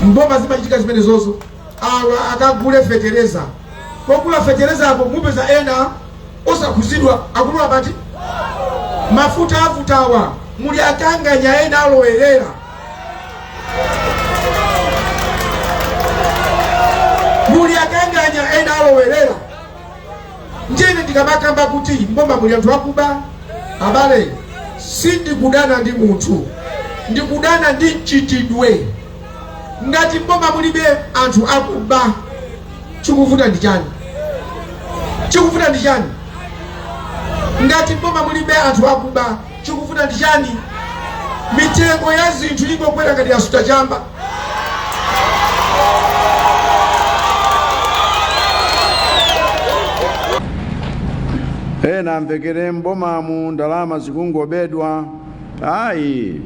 mboma zimachitika zimenezozo awa akagule fetereza pogula fetereza apo mupeza ena osakhuzidwa akulu apa pati mafuta avutawa muli akanganya ena alowerera muli akanganya ena alowerera Ndiye ndikamakamba kuti mboma muli anthu akuba, abale, sindikudana ndi munthu, ndikudana ndi mchitidwe. Ngati mboma mulibe anthu akuba, chikuvuta ndi chani? Chikuvuta ndi chani? Ngati mboma mulibe anthu akuba Chikuvuta ndi chani? Mitengo ya zinthu ingokwera ngati yasuta chamba. Ena amvekere mbomamu ndalama zikungobedwa ayi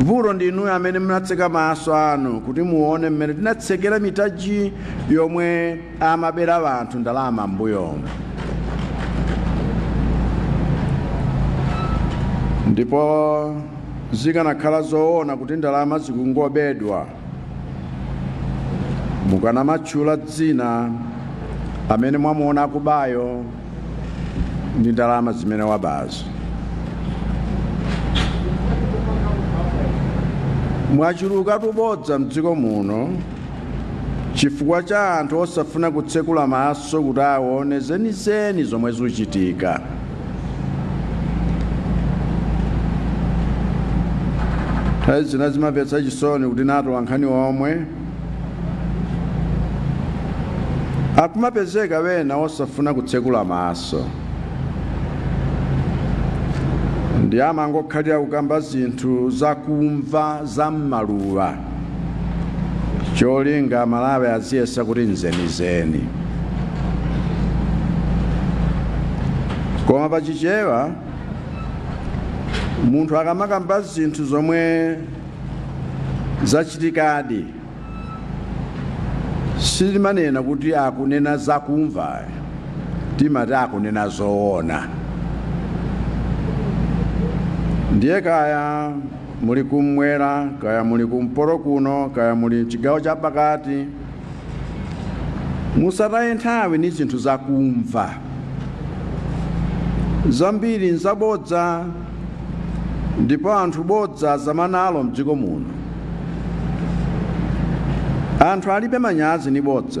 vuto ndi inuyo amene munatseka maso anu kuti muone mmene tinatsekera mitaji yomwe amabera anthu ndalama m'mbuyomu ndipo zikanakhala zoona kuti ndalama zikungobedwa mukanamatchula dzina amene mwamuona akubayo ndi ndalama zimene wabazo mwachuluka tubodza mdziko muno chifukwa cha anthu osafuna kutsekula maso kuti aone zenizeni zomwe zuchitika nthawi zina zimamvetsa chisoni kuti ndi atolankhani omwe akumapezeka wena osafuna kutsekula maso ndi amangokhalira kukamba zinthu zakumva za mmaluwa cholinga aMalawi aziyesa kuti nzenizeni koma pachichewa munthu akamakamba zinthu zomwe zachitikadi sitimanena kuti akunena zakumva timati akunena zoona ndiye kaya muli kummwera kaya muli kumpoto kuno kaya muli mchigawo chapakati musataye nthawi ni zinthu zakumva zambiri nzabodza ndipo anthu bodza azama nalo mdziko muno anthu alibe manyazi ni bodza